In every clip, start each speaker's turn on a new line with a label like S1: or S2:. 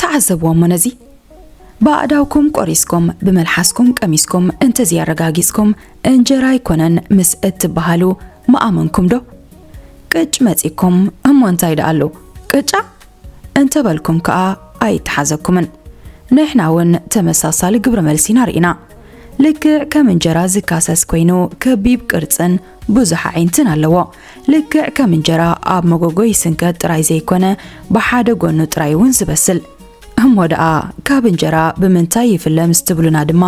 S1: ተዓዘብዎ እሞ ነዚ ብኣእዳውኩም ቆሪስኩም ብመልሓስኩም ቀሚስኩም እንተዘይኣረጋጊጽኩም እንጀራ ኣይኮነን ምስ እትበሃሉ መኣመንኩም ዶ ቅጭ መጺኩም እሞ እንታይ ደኣሉ ቅጫ እንተበልኩም ከኣ ኣይተሓዘኩምን። ንሕና እውን ተመሳሳሊ ግብረ መልሲ ኢና ርኢና። ልክዕ ከም እንጀራ ዝካሰስ ኮይኑ ከቢብ ቅርጽን ብዙሕ ኣዒንትን ኣለዎ። ልክዕ ከም እንጀራ ኣብ መጎጎ ይስንከት ጥራይ ዘይኮነ ብሓደ ጎኑ ጥራይ እውን ዝበስል። እሞ ደኣ ካብ እንጀራ ብምንታይ ይፍለ ምስ ትብሉና ድማ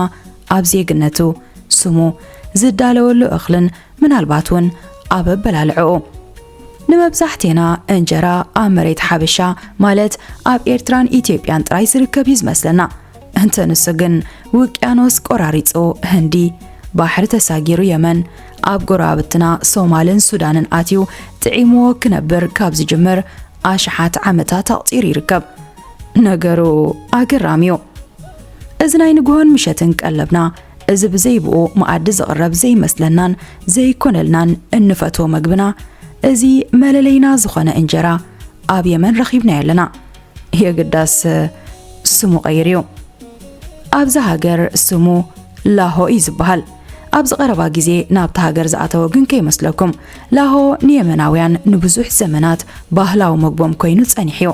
S1: ኣብ ዜግነቱ፣ ስሙ፣ ዝዳለወሉ እኽልን ምናልባት እውን ኣብ ኣበላልዕኡ ንመብዛሕቴና እንጀራ ኣብ መሬት ሓበሻ ማለት ኣብ ኤርትራን ኢትዮጵያን ጥራይ ዝርከብ እዩ ዝመስለና እንተ ንሱ ግን ውቅያኖስ ቆራሪጹ ህንዲ ባሕሪ ተሳጊሩ የመን ኣብ ጎረባብትና ሶማልን ሱዳንን ኣትዩ ጥዒምዎ ክነብር ካብ ዝጅምር ኣሽሓት ዓመታት ኣቕጺሩ ይርከብ። ነገሩ ኣገራሚ እዩ። እዚ ናይ ንግሆን ምሸትን ቀለብና እዚ ብዘይብኡ መኣዲ ዝቕረብ ዘይመስለናን ዘይኮነልናን እንፈትዎ መግብና እዚ መለለይና ዝኾነ እንጀራ ኣብ የመን ረኺብናዮ ኣለና። የግዳስ ስሙ ቀይሩ እዩ። ኣብዚ ሃገር ስሙ ላሆ እዩ ዝበሃል። ኣብዚ ቀረባ ግዜ ናብቲ ሃገር ዝኣተወ ግን ከይመስለኩም ላሆ ንየመናውያን ንብዙሕ ዘመናት ባህላዊ መግቦም ኮይኑ ጸኒሑ እዩ።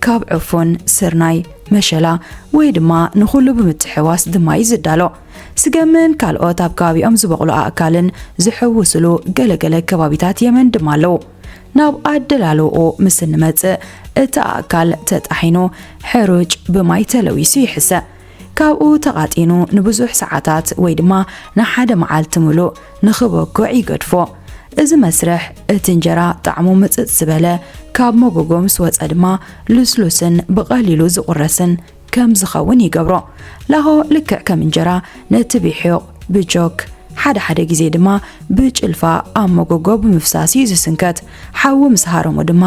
S1: ካብ ዕፉን፣ ስርናይ፣ መሸላ ወይ ድማ ንኹሉ ብምትሕዋስ ድማ እዩ ዝዳሎ። ስገምን ካልኦት ኣብ ከባቢኦም ዝበቕሉ ኣእካልን ዝሕውስሉ ገለ ገለ ከባቢታት የመን ድማ ኣለዉ። ናብ ኣደላልውኡ ምስ እንመጽእ እቲ ኣእካል ተጣሒኑ ሕሩጭ ብማይ ተለዊሱ ይሕሰ። ካብኡ ተቓጢኑ ንብዙሕ ሰዓታት ወይ ድማ ንሓደ መዓልቲ ምሉእ ንኽበኩዕ ይገድፎ። እዚ መስርሕ እቲ እንጀራ ጣዕሙ ምጽጽ ዝበለ፣ ካብ መጎጎ ምስ ወጸ ድማ ልስሉስን ብቐሊሉ ዝቑረስን ከም ዝኸውን ይገብሮ። ላሆ ልክዕ ከም እንጀራ ነቲ ቢሑቕ ብጆክ ሓደ ሓደ ግዜ ድማ ብጭልፋ ኣብ መጎጎ ብምፍሳስ እዩ ዝስንከት። ሓዊ ምስ ሃረሞ ድማ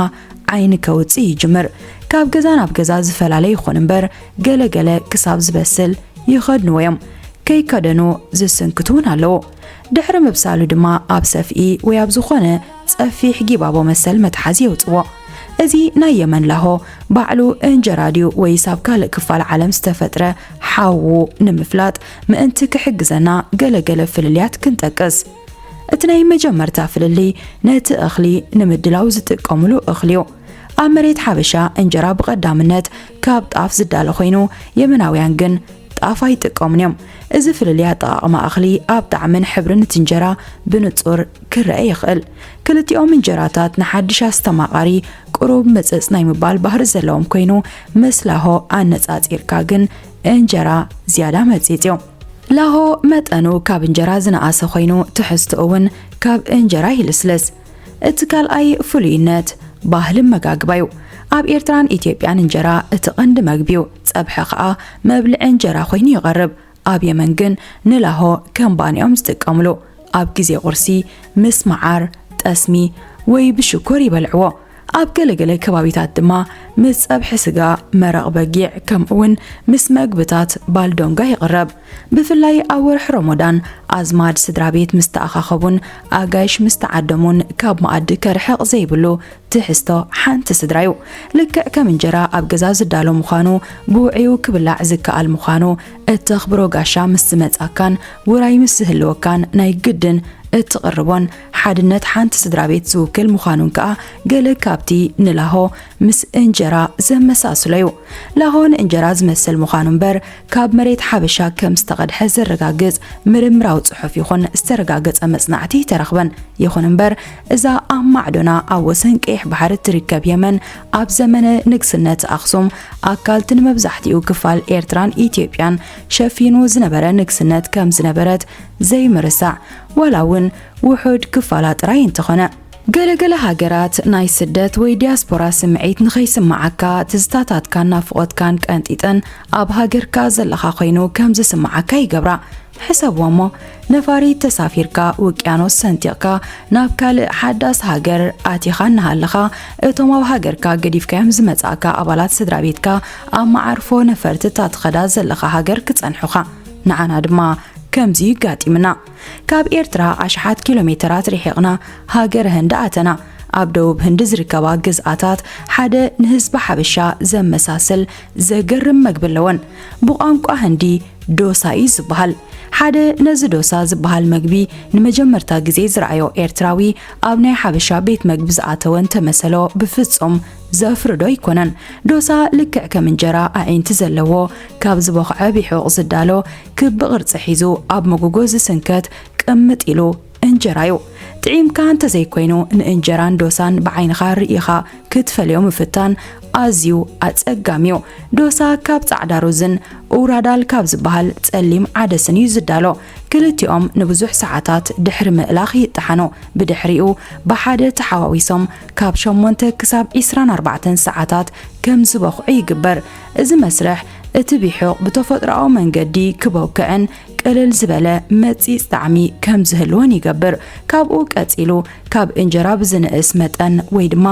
S1: ዓይኒ ከውጽእ ይጅምር። ካብ ገዛ ናብ ገዛ ዝፈላለ ይኹን እምበር ገለ ገለ ክሳብ ዝበስል ይኸድንዎ እዮም። ከይከደኑ ዝስንክቱ እውን ኣለዉ። ድሕሪ ምብሳሉ ድማ ኣብ ሰፍኢ ወይ ኣብ ዝኾነ ጸፊሕ ጊባቦ መሰል መትሓዚ የውጽዎ። እዚ ናይ የመን ላሆ ባዕሉ እንጀራ ድዩ ወይስ ኣብ ካልእ ክፋል ዓለም ዝተፈጥረ ሓዉ ንምፍላጥ ምእንቲ ክሕግዘና ገለ ገለ ፍልልያት ክንጠቅስ። እቲ ናይ መጀመርታ ፍልልይ ነቲ እኽሊ ንምድላው ዝጥቀምሉ እኽሊ እዩ። ኣብ መሬት ሓበሻ እንጀራ ብቐዳምነት ካብ ጣፍ ዝዳለ ኮይኑ የመናውያን ግን ጣፍ ኣይጥቀሙን እዮም። እዚ ፍልልይ ኣጠቓቕማ እኽሊ ኣብ ጣዕምን ሕብርን እቲ እንጀራ ብንጹር ክረአ ይኽእል። ክልቲኦም እንጀራታት ንሓድሽ ኣስተማቓሪ ቅሩብ ምጽጽ ናይ ምባል ባህሪ ዘለዎም ኮይኑ ምስ ላሆ ኣነጻጺርካ ግን እንጀራ ዝያዳ መጺጽ እዩ። ላሆ መጠኑ ካብ እንጀራ ዝነኣሰ ኮይኑ ትሕዝትኡ እውን ካብ እንጀራ ይልስልስ። እቲ ካልኣይ ፍሉይነት ባህሊ መጋግባ እዩ። ኣብ ኤርትራን ኢትዮጵያን እንጀራ እቲ ቀንዲ መግቢ እዩ። ጸብሐ ከኣ መብልዒ እንጀራ ኮይኑ ይቐርብ። ኣብ የመን ግን ንላሆ ከም ባኒ እዮም ዝጥቀምሉ። ኣብ ግዜ ቁርሲ ምስ መዓር፣ ጠስሚ ወይ ብሽኮር ይበልዕዎ። ኣብ ገለገለ ከባቢታት ድማ ምስ ጸብሒ ስጋ፣ መረቕ በጊዕ ከምኡውን ምስ መግብታት ባልዶንጋ ይቕረብ። ብፍላይ ኣብ ወርሒ ሮሞዳን ኣዝማድ ስድራ ቤት ምስ ተኣኻኸቡን ኣጋይሽ ምስ ተዓደሙን ካብ መኣዲ ከርሕቕ ዘይብሉ ትሕዝቶ ሓንቲ ስድራ እዩ። ልክዕ ከም እንጀራ ኣብ ገዛ ዝዳሎ ምዃኑ ብውዕዩ ክብላዕ ዝከኣል ምዃኑ እተኽብሮ ጋሻ ምስ ዝመጻካን ውራይ ምስ ዝህልወካን ናይ ግድን እትቕርቦን ሓድነት ሓንቲ ስድራ ቤት ዝውክል ምዃኑን ከኣ ገለ ካብቲ ንላሆ ምስ እንጀራ ዘመሳስሎ እዩ። ላሆ ንእንጀራ ዝመስል ምዃኑ እምበር ካብ መሬት ሓበሻ ከም ዝተቐድሐ ዘረጋግጽ ምርምራዊ ጽሑፍ ይኹን ዝተረጋገጸ መጽናዕቲ ኣይተረኽበን። ይኹን እምበር እዛ ኣብ ማዕዶና ኣብ ወሰን ቀይሕ ባሕሪ እትርከብ የመን ኣብ ዘመነ ንግስነት ኣኽሱም ኣካልቲ ንመብዛሕትኡ ክፋል ኤርትራን ኢትዮጵያን ሸፊኑ ዝነበረ ንግስነት ከም ዝነበረት ዘይምርሳዕ ዋላ እውን ውሑድ ክፋላ ጥራይ እንተኾነ ገለ ገለ ሃገራት ናይ ስደት ወይ ዲያስፖራ ስምዒት ንኸይስምዓካ ትዝታታትካን ናፍቖትካን ቀንጢጠን ኣብ ሃገርካ ዘለኻ ኮይኑ ከም ዝስምዓካ ይገብራ። ሕሰብዎ እሞ ነፋሪት ተሳፊርካ ውቅያኖስ ሰንጢቕካ ናብ ካልእ ሓዳስ ሃገር ኣቲኻ እናሃለኻ እቶም ኣብ ሃገርካ ገዲፍካዮም ዝመጻእካ ኣባላት ስድራ ቤትካ ኣብ መዓርፎ ነፈርቲ እታ ትኸዳ ዘለኻ ሃገር ክጸንሑኻ ንዓና ድማ ከምዚ እዩ ኣጋጢምና። ካብ ኤርትራ ኣሽሓት ኪሎ ሜተራት ርሒቕና ሃገረ ህንዲ ኣተና። ኣብ ደቡብ ህንዲ ዝርከባ ግዝኣታት ሓደ ንህዝቢ ሓበሻ ዘመሳስል ዘገርም መግቢ ኣለወን። ብቋንቋ ህንዲ ዶሳ እዩ ዝበሃል። ሓደ ነዚ ዶሳ ዝበሃል መግቢ ንመጀመርታ ግዜ ዝረኣዮ ኤርትራዊ ኣብ ናይ ሓበሻ ቤት መግቢ ዝኣተወ እንተመሰሎ ብፍጹም ዘፍርዶ ኣይኮነን። ዶሳ ልክዕ ከም እንጀራ ኣዒንቲ ዘለዎ ካብ ዝቦኽዐ ቢሑቕ ዝዳሎ ክብ ቅርጺ ሒዙ ኣብ መጎጎ ዝስንከት ቅምጥ ኢሉ እንጀራ እዩ። ጥዒምካ እንተዘይኮይኑ ንእንጀራን ዶሳን ብዓይንኻ ርኢኻ ክትፈልዮ ምፍታን ኣዝዩ ኣጸጋሚ እዩ። ዶሳ ካብ ጻዕዳ ሩዝን ኡራዳል ካብ ዝበሃል ጸሊም ዓደስን እዩ ዝዳሎ። ክልቲኦም ንብዙሕ ሰዓታት ድሕሪ ምእላኽ ይጠሓኑ። ብድሕሪኡ ብሓደ ተሓዋዊሶም ካብ ሸሞንተ ክሳብ ዒስራን ኣርባዕተን ሰዓታት ከም ዝበኹዑ ይግበር። እዚ መስርሕ እቲ ቢሑቕ ብተፈጥሮኣዊ መንገዲ ክቦክዕን ቅልል ዝበለ መጺጽ ጣዕሚ ከም ዝህልዎን ይገብር። ካብኡ ቀጺሉ ካብ እንጀራ ብዝንእስ መጠን ወይ ድማ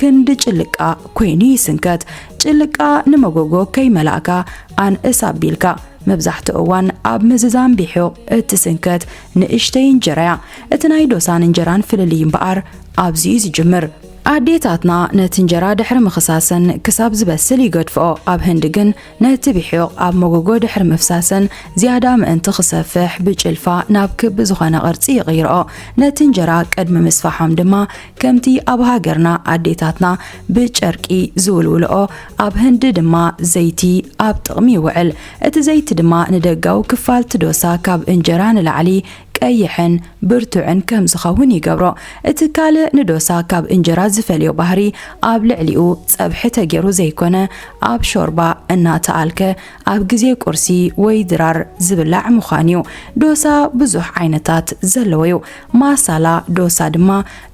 S1: ክንዲ ጭልቃ ኮይኑ ይስንከት። ጭልቃ ንመጎጎ ከይመላእካ ኣንእስ ኣቢልካ መብዛሕትኡ እዋን ኣብ ምዝዛም ቢሑቕ እትስንከት ንእሽተይ እንጀራ'ያ። እቲ ናይ ዶሳን እንጀራን ፍልልይ እምበኣር ኣብዚ'ዩ ዝጅምር። ኣዴታትና ነቲ እንጀራ ድሕሪ ምኽሳሰን ክሳብ ዝበስል ይገድፍኦ፣ ኣብ ህንዲ ግን ነቲ ብሒቕ ኣብ መጎጎ ድሕሪ ምፍሳሰን ዝያዳ ምእንቲ ክሰፍሕ ብጭልፋ ናብ ክቢ ዝኾነ ቅርጺ ይቕይርኦ። ነቲ እንጀራ ቅድሚ ምስፋሖም ድማ ከምቲ ኣብ ሃገርና ኣዴታትና ብጨርቂ ዝውልውልኦ ኣብ ህንዲ ድማ ዘይቲ ኣብ ጥቕሚ ይውዕል። እቲ ዘይቲ ድማ ንደጋዊ ክፋል'ቲ ዶሳ ካብ እንጀራ ንላዕሊ ቀይሕን ብርቱዕን ከም ዝኸውን ይገብሮ። እቲ ካልእ ንዶሳ ካብ እንጀራ ዝፈልዮ ባህሪ ኣብ ልዕሊኡ ጸብሒ ተጌሩ ዘይኮነ ኣብ ሾርባ እናተኣልከ ኣብ ግዜ ቁርሲ ወይ ድራር ዝብላዕ ምዃን እዩ። ዶሳ ብዙሕ ዓይነታት ዘለዎ እዩ። ማሳላ ዶሳ ድማ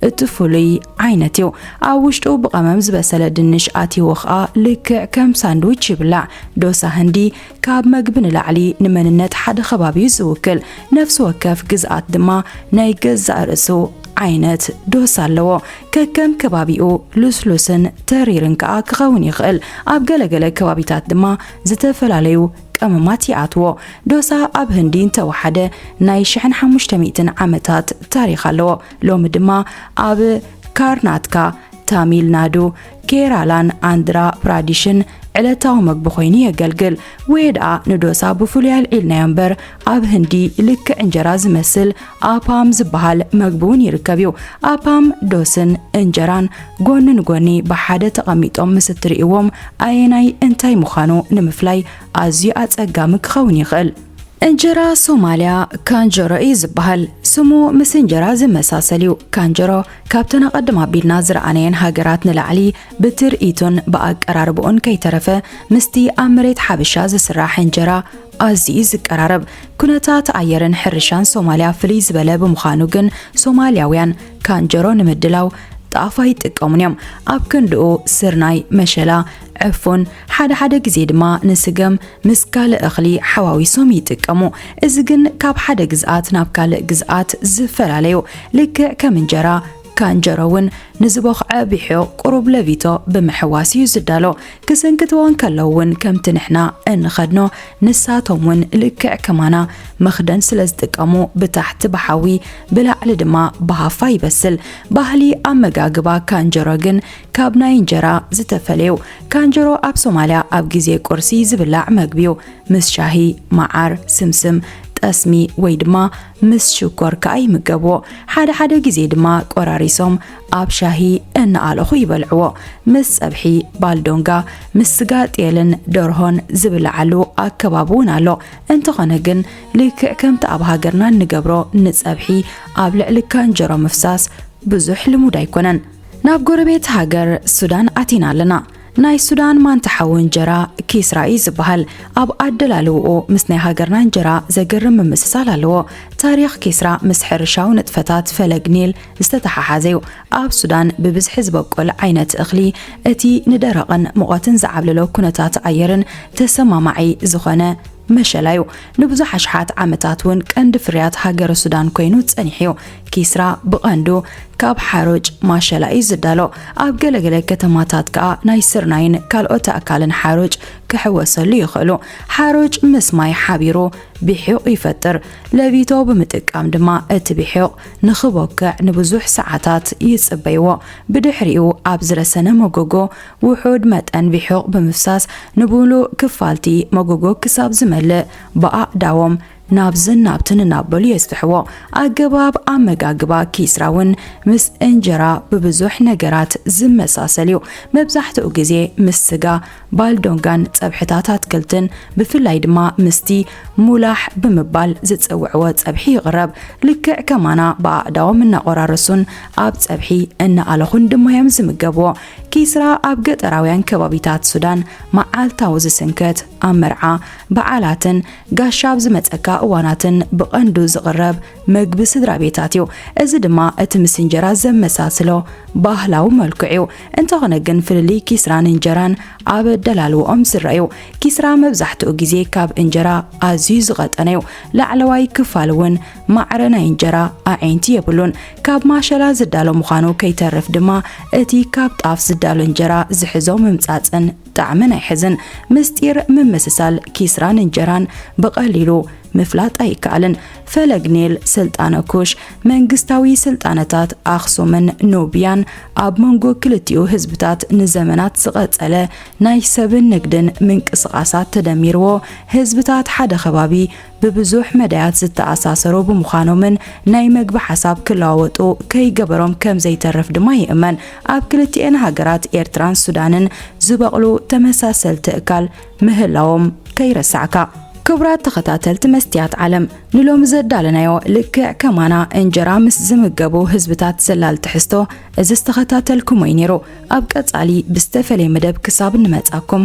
S1: እቲ ፍሉይ ዓይነት እዩ። ኣብ ውሽጡ ብቐመም ዝበሰለ ድንሽ ኣትይዎ ከኣ ልክዕ ከም ሳንድዊች ይብላዕ። ዶሳ ህንዲ ካብ መግቢ ንላዕሊ ንመንነት ሓደ ከባቢ ዝውክል ነፍሲ ወከፍ ግዝኣት ድማ ናይ ገዛእ ርእሱ ዓይነት ዶስ ኣለዎ። ከከም ከባቢኡ ልስሉስን ተሪርን ከኣ ክኸውን ይኽእል። ኣብ ገለገለ ከባቢታት ድማ ዝተፈላለዩ ቀመማት ይኣትዎ። ዶሳ ኣብ ህንዲ እንተወሓደ ናይ ሽሕን ሓሙሽተ ሚእትን ዓመታት ታሪኽ ኣለዎ። ሎሚ ድማ ኣብ ካርናትካ፣ ታሚል ናዱ፣ ኬራላን ኣንድራ ፕራዲሽን ዕለታዊ መግቢ ኮይኑ የገልግል ወይ ደኣ ንዶሳ ብፍሉይ ኣልዒልናዮ እምበር ኣብ ህንዲ ልክዕ እንጀራ ዝመስል ኣፓም ዝበሃል መግቢ እውን ይርከብ እዩ ኣፓም ዶስን እንጀራን ጎኒ ንጎኒ ብሓደ ተቐሚጦም ምስ እትርእይዎም ኣየናይ እንታይ ምዃኑ ንምፍላይ ኣዝዩ ኣጸጋሚ ክኸውን ይኽእል እንጀራ ሶማልያ ካንጀሮ እዩ ዝበሃል ስሙ ምስ እንጀራ ዝመሳሰል እዩ ካንጀሮ ካብተን ኣቐድም ኣቢልና ዝረኣናየን ሃገራት ንላዕሊ ብትርኢቱን ብኣቀራርብኡን ከይተረፈ ምስቲ ኣብ መሬት ሓበሻ ዝስራሕ እንጀራ ኣዝዩ እዩ ዝቀራረብ። ኩነታት ኣየርን ሕርሻን ሶማልያ ፍልይ ዝበለ ብምዃኑ ግን ሶማልያውያን ካንጀሮ ንምድላው ጣፍ ኣይጥቀሙን እዮም። ኣብ ክንድኡ ስርናይ፣ መሸላ፣ ዕፉን፣ ሓደ ሓደ ግዜ ድማ ንስገም ምስ ካልእ እኽሊ ሓዋዊሶም ይጥቀሙ። እዚ ግን ካብ ሓደ ግዝኣት ናብ ካልእ ግዝኣት ዝፈላለ እዩ። ልክዕ ከም እንጀራ፣ ካንጀሮ እውን ንዝቦኽዐ ቢሑ ቁሩብ ለቢቶ ብምሕዋስ እዩ ዝዳሎ። ክስንክትዎ እንከለዉ እውን ከምቲ ንሕና እንኸድኖ ንሳቶም እውን ልክዕ ከማና መኽደን ስለ ዝጥቀሙ ብታሕቲ ብሓዊ ብላዕሊ ድማ ብሃፋ ይበስል። ባህሊ ኣመጋግባ ካንጀሮ ግን ካብ ናይ እንጀራ ዝተፈለዩ ካንጀሮ ኣብ ሶማልያ ኣብ ግዜ ቁርሲ ዝብላዕ መግቢዩ ምስ ሻሂ፣ መዓር፣ ስምስም፣ ጠስሚ ወይ ድማ ምስ ሽኮር ከኣ ይምገብዎ። ሓደ ሓደ ግዜ ድማ ቆራሪሶም ኣብ ሻሂ እናኣለኹ ይበልዕዎ። ምስ ጸብሒ፣ ባልዶንጋ፣ ምስ ስጋ ጤልን ደርሆን ዝብላዓሉ ኣከባቢ እውን ኣሎ። እንተኾነ ግን ልክዕ ከምቲ ኣብ ሃገርና እንገብሮ ንጸብሒ ኣብ ልዕሊ ካንጀሮ ምፍሳስ ብዙሕ ልሙድ ኣይኮነን። ናብ ጎረቤት ሃገር ሱዳን ኣቲና ኣለና። ናይ ሱዳን ማንታ ሓዊ እንጀራ ኪስራ እዩ ዝበሃል። ኣብ ኣደላልውኡ ምስ ናይ ሃገርና እንጀራ ዘገርም ምምስሳል ኣለዎ። ታሪኽ ኪስራ ምስ ሕርሻዊ ንጥፈታት ፈለግ ኒል ዝተተሓሓዘ እዩ። ኣብ ሱዳን ብብዝሒ ዝበቁል ዓይነት እኽሊ እቲ ንደረቕን ሙቐትን ዝዓብለሎ ኩነታት ኣየርን ተሰማማዒ ዝኾነ መሸላ እዩ። ንብዙሕ ኣሽሓት ዓመታት እውን ቀንዲ ፍርያት ሃገረ ሱዳን ኮይኑ ጸኒሑ እዩ። ኪስራ ብቐንዱ ካብ ሓሩጭ ማሸላ እዩ ዝዳሎ። ኣብ ገለገለ ከተማታት ከኣ ናይ ስርናይን ካልኦት ኣእካልን ሓሩጭ ክሕወሰሉ ይኽእሉ። ሓሩጭ ምስ ማይ ሓቢሩ ቢሑቕ ይፈጥር። ለቢቶ ብምጥቃም ድማ እቲ ቢሑቕ ንኽቦክዕ ንብዙሕ ሰዓታት ይጽበይዎ። ብድሕሪኡ ኣብ ዝረሰነ መጎጎ ውሑድ መጠን ቪሑቕ ብምፍሳስ ንብምሉእ ክፋል'ቲ መጎጎ ክሳብ ዝመልእ ብኣእዳዎም ናብዝን ናብትን እናበሉ የስፍሕዎ። ኣገባብ ኣመጋግባ ኪስራ እውን ምስ እንጀራ ብብዙሕ ነገራት ዝመሳሰል እዩ። መብዛሕትኡ ግዜ ምስ ስጋ፣ ባልዶንጋን ጸብሕታት ኣትክልትን ብፍላይ ድማ ምስቲ ሙላሕ ብምባል ዝጽውዕዎ ጸብሒ ይቕረብ። ልክዕ ከማና ብኣእዳዎም እናቖራረሱን ኣብ ጸብሒ እናኣለኹን ድማ እዮም ዝምገብዎ። ኪስራ ኣብ ገጠራውያን ከባቢታት ሱዳን መዓልታዊ ዝስንከት፣ ኣብ መርዓ፣ በዓላትን ጋሻ ኣብ ዝመጸካ እዋናትን ብቐንዱ ዝቕረብ መግቢ ስድራቤታት እዩ። እዚ ድማ እቲ ምስ እንጀራ ዘመሳስሎ ባህላዊ መልክዑ እዩ። እንተኾነ ግን ፍልልይ ኪስራን እንጀራን ኣብ ኣደላልዋኦም ዝርኣ እዩ። ኪስራ መብዛሕትኡ ግዜ ካብ እንጀራ ኣዝዩ ዝቐጠነ እዩ፣ ላዕለዋይ ክፋል እውን ማዕረ ናይ እንጀራ ኣዒንቲ የብሉን። ካብ ማሸላ ዝዳሎ ምዃኑ ከይተርፍ ድማ እቲ ካብ ጣፍ ዝዳሎ እንጀራ ዝሕዞ ምምጻጽን ጣዕምን ኣይሕዝን። ምስጢር ምምስሳል ኪስራን እንጀራን ብቐሊሉ ምፍላጥ ኣይከኣልን። ፈለግ ኔል ስልጣነ ኩሽ መንግስታዊ ስልጣነታት ኣኽሱምን ኖብያን ኣብ መንጎ ክልቲኡ ህዝብታት ንዘመናት ዝቐጸለ ናይ ሰብን ንግድን ምንቅስቓሳት ተደሚርዎ ህዝብታት ሓደ ከባቢ ብብዙሕ መዳያት ዝተኣሳሰሩ ብምዃኖምን ናይ መግቢ ሓሳብ ክለዋወጡ ከይገበሮም ከምዘይተርፍ ድማ ይእመን። ኣብ ክልቲኤን ሃገራት ኤርትራን ሱዳንን ዝበቕሉ ተመሳሰልቲ እካል ምህላዎም ከይረሳዕካ። ክቡራት ተኸታተልቲ መስትያት ዓለም ንሎሚ ዘዳለናዮ ልክዕ ከማና እንጀራ ምስ ዝምገቡ ህዝብታት ዘላል ትሕዝቶ እዚ ዝተኸታተልኩሞ'ዩ ነይሩ። ኣብ ቀጻሊ ብዝተፈለየ መደብ ክሳብ እንመጻኩም